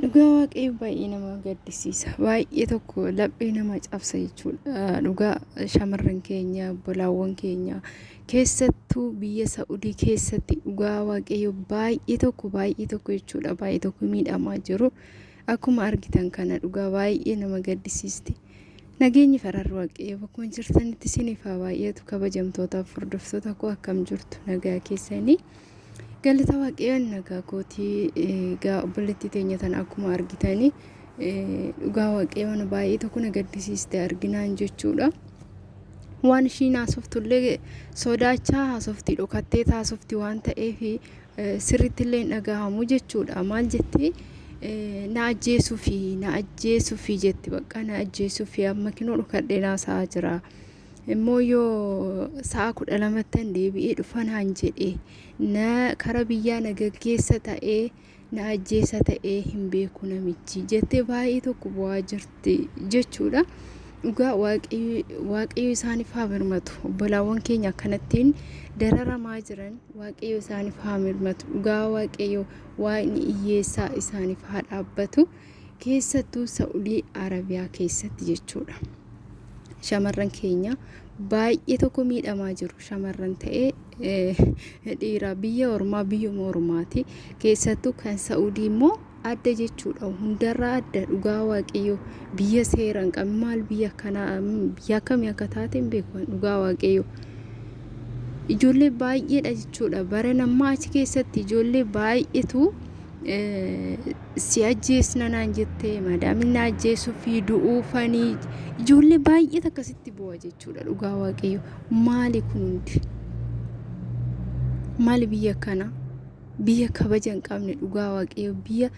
Dhugaa waaqayyo baay'ee nama gaddisiisa. Baay'ee tokko laphee nama cabsa jechuudha. Dhugaa shamarran keenya, bolaawwan keenya keessattuu biyya Sa'udii keessatti dhugaa waaqayyo baay'ee tokko baay'ee tokko jechuudha. Baay'ee tokko miidhamaa jiru. Akkuma argitan kana dhugaa baay'ee nama gaddisiisti. Nageenyi fararri waaqayyo bakkuma jirtanitti isiniif haa baay'atu kabajamtootaaf hordoftoota koo akkam jirtu nagaa keessanii galata waaqayyoon nagaa kootii egaa obboleettii teenya tana akkuma argitanii dhugaa waaqayyoon baay'ee tokko na gaddisiiste arginaan jechuudha. Waan ishiin haasoftullee sodaachaa haasofti dhokattee haasofti waan ta'eef sirrittillee hin dhagahamu jechuudha. Maal jetti? Na ajjeesuufi, na ajjeesuufi jetti bakka na ajjeesuufi amma kinoo dhukadhee naa sa'aa jira. Immoo yoo sa'a kudha lamattan deebi'ee dhufa naan jedhe na kara biyyaa na gaggeessa ta'ee na ajjeesa ta'ee hin beeku namichi jettee baay'ee tokko bu'aa jirti jechuudha. Dhugaa waaqayyo isaanif haa mirmatu obbolaawwan keenya akkanattiin dararamaa jiran waaqayyo isaanif haa mirmatu dhugaa waaqayyo waaqni iyyeessaa isaanif haa dhaabbatu keessattuu sa'udii arabiyaa keessatti jechuudha shamarran keenya baay'ee tokko miidhamaa jiru shamarran ta'ee dhiira biyya ormaa biyyuma ormaati keessattuu kan sa'udii immoo adda jechuudha hundarraa adda dhugaa waaqayyoo biyya seera hin qabne maal biyya akkanaa biyya akkamii akka taate hin beeku dhugaa waaqayyoo ijoollee baay'eedha jechuudha bara nammaa achi keessatti ijoollee baay'eetu si ajjeesna naan jettee maadaamin na ajjeesuu fi du'uufanii ijoollee baay'eet akkasitti bu'a jechuudha dhugaa waaqayyoo maali kun hundi maali biyya akkanaa biyya kabaja hin qabne dhugaa waaqayyo biyya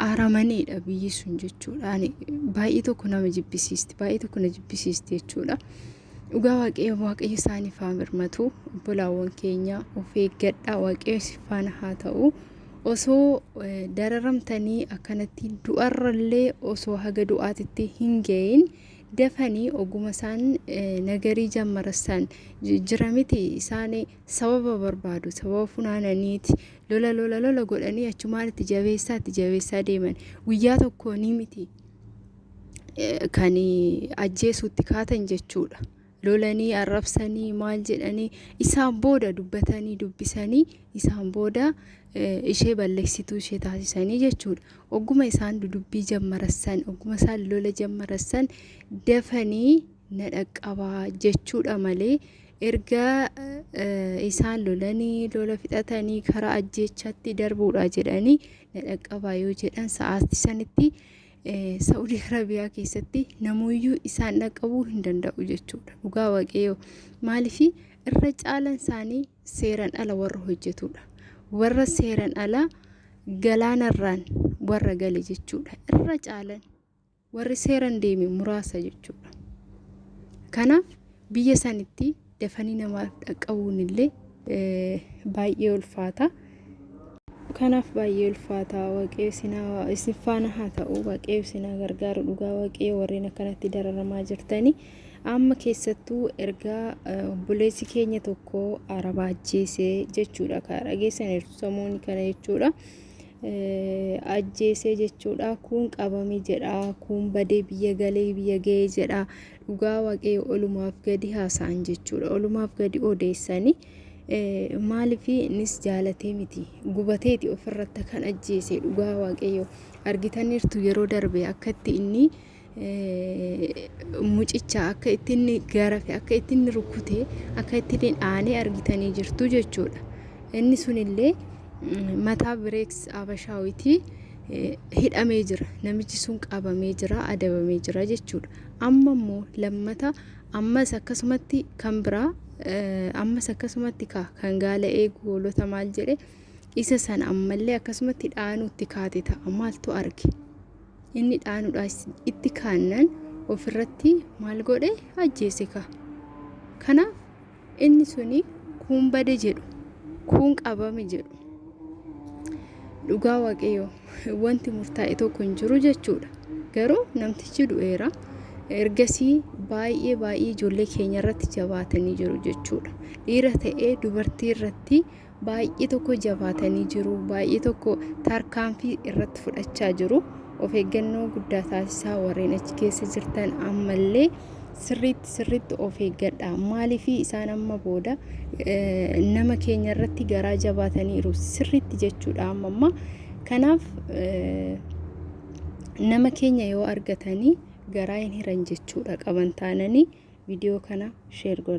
aaramaneedha biyyi sun jechuudha ani baay'ee tokko nama jibbisiisti baay'ee tokko na jibbisiisti jechuudha dhugaa waaqayyo waaqayyo isaaniif haa mirmatu obbolaawwan keenya of eeggadhaa waaqayyo si faana haa ta'u osoo dararamtanii akkanatti du'arrallee osoo haga du'aatitti hin ga'iin dafanii oguma isaan nagarii jammarassan jira miti isaanii sababa barbaadu sababa funaananiiti lola lola lola godhanii achumaan itti jabeessaa itti jabeessaa deeman guyyaa tokkoo ni miti kan ajjeesuutti kaatan jechuudha. lolanii arrabsanii maal jedhanii isaan booda dubbatanii dubbisanii isaan booda ishee balleessituu ishee taasisanii jechuudha. Ogguma isaan dudubbii jammarassan ogguma isaan lola jammarassan dafanii na dhaqqaba jechuudha malee erga isaan lolanii lola fixatanii karaa ajjeechaatti darbuudha jedhanii na dhaqqabaa yoo jedhan sa'aatti sanitti Sa'udii Arabiyaa keessatti namuyyuu isaan dhaqqabuu hin danda'u jechuudha. Dhugaa waaqayyoo maaliif irra caalan isaanii seeran ala warra hojjetudha. Warra seeran ala galaanarraan warra gale jechuudha. Irra caalan Warri seeran deeme muraasa jechuudha. Kanaaf biyya sanitti dafanii namaaf dhaqqabuun illee baay'ee ulfaata. Kanaaf baay'ee ulfaata waqee sinaa isin faana haa ta'u waqee sinaa gargaaru dhugaa waqee warreen akkanatti dararamaa jirtanii amma keessattuu ergaa obboleessi keenya tokko arabaa ajjeese jechuudha kan dhageessan samoonni kana jechuudha. ajjeesee jechuudha kuun qabame jedha kuun badee biyya galee biyya ga'ee jedha dhugaa waaqayyo olumaaf gadi haasa'an jechuudha olumaaf gadi odeessanii maaliif innis jaalatee miti gubateeti ofirratti kan ajjeese dhugaa waaqayyo argitaniirtu yeroo darbe akkatti inni mucicha akka ittiin garafe akka ittiin rukkute akka ittiin aanee argitanii jirtu jechuudha. Inni sunillee mataa bireeks abashaawitii hidhamee jira namichi sun qabamee jira adabamee jira jechuudha. Amma immoo lammata ammas akkasumatti kan biraa ammas akkasumatti kaa kan gaala eegu hoolota maal jedhe isa sana ammallee akkasumatti dhaanuutti kaate ta'a maaltu arge. Inni dhaanuudhaas itti kaannan of irratti maal godhe ajjeese ka. Kanaaf inni suni kuun bade jedhu kuun qabame jedhu. Dhugaa waaqayyo wanti murtaa'e tokko hin jiru jechuudha. Garuu namtichi du'eera. Ergasii baay'ee baay'ee ijoollee keenya irratti jabaatanii jiru jechuudha. Dhiira ta'ee dubartii irratti baay'ee tokko jabaatanii jiru baay'ee tokko tarkaanfii irratti fudhachaa jiru of eeggannoo guddaa taasisaa warreen achi keessa jirtan ammallee sirriitti sirriitti of eeggadha maaliif isaan amma booda nama keenya irratti garaa jabaataniiru sirriitti jechuudha amma amma kanaaf nama keenya yoo argatanii garaa hin hiran jechuudha qaban taananii viidiyoo kana sheer godha.